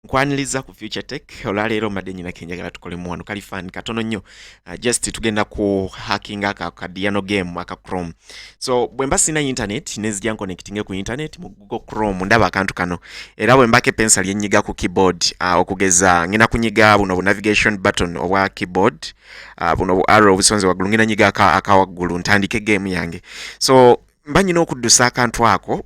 nkwaniriza ku future tech olwaleero mbadde nyina kenjagala tukolemu wano kali fan katono nnyo uh, just tugenda ku hacking aka kadiyano game aka chrome so bwe mba sina internet nezija nconnectinge ku internet mu google chrome ndaba akantu kano era bwe mbako epensa lyenyiga ku keyboard uh, okugeza ngina kunyiga buno bu navigation button obwa keyboard uh, buno bu arrow obusonze waggulu ngina nyiga akawaggulu ntandike game yange so mba nyina okuddusa akantu ako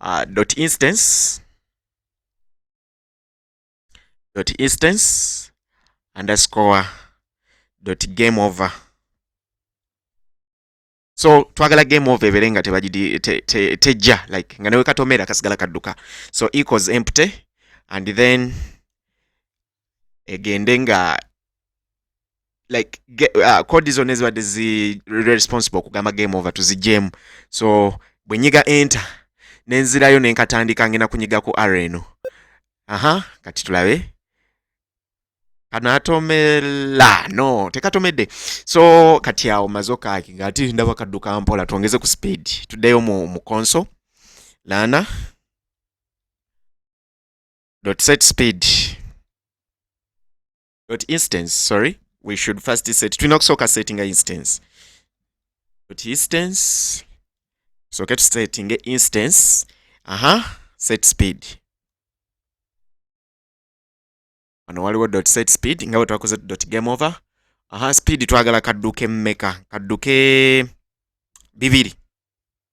uh, dot instance dot instance underscore dot game over so twagala game over ebeere nga tebagidi tejja te, te, te like nga newe katomera kasigala kadduka so equals empty and then egende nga like uh, code zona ezibadde zi responsible okugamba game over tuzijemu so bwenyiga enter nenzirayo nenkatandika ngena kunyiga ku ara eno aha kati tulabe kanatomela no tekatomedde so kati awo mazokaki ngati ndaba kadduka mpola twongeze ku speed tuddeyo mu, mu console lana dot set speed dot instance sorry we should first set tulina okusooka settinga instance dot instance tusooke tusettinge instance aha set speed wano waliwo dot set speed nga bwe twakoze dot game over aha speed twagala kadduke mmeka kadduke bibiri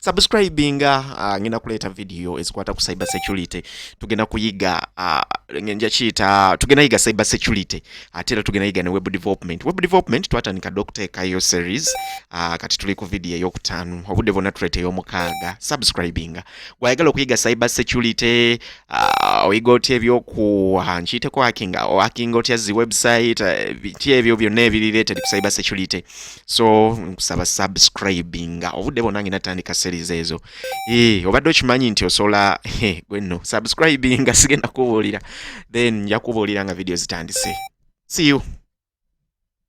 subscribinga uh, ah, ngenda kuleeta video ezikwata ku cyber security tugenda kuyiga uh, nja kiyita tugenda yiga cyber security ate era tugenda yiga ne web development web development twatandika dokuteekayo series uh, kati tuli ku video eyokutaano obudde bwonna tuleeta eyomukaaga subscribinga gwayagala okuyiga cyber security uh, oyiga otya ebyoku uh, nkiyiteko hakinga ohakinga otya zi website uh, ti ebyo byonna ebiri related ku cyber security so nkusaba subscribinga obudde bwonna ngenda tandika series ezo eh, obadde okimanyi nti osobola eh, gwe nno subscribinga sigenda kubuulira then nja kubuulira nga video zitandise see you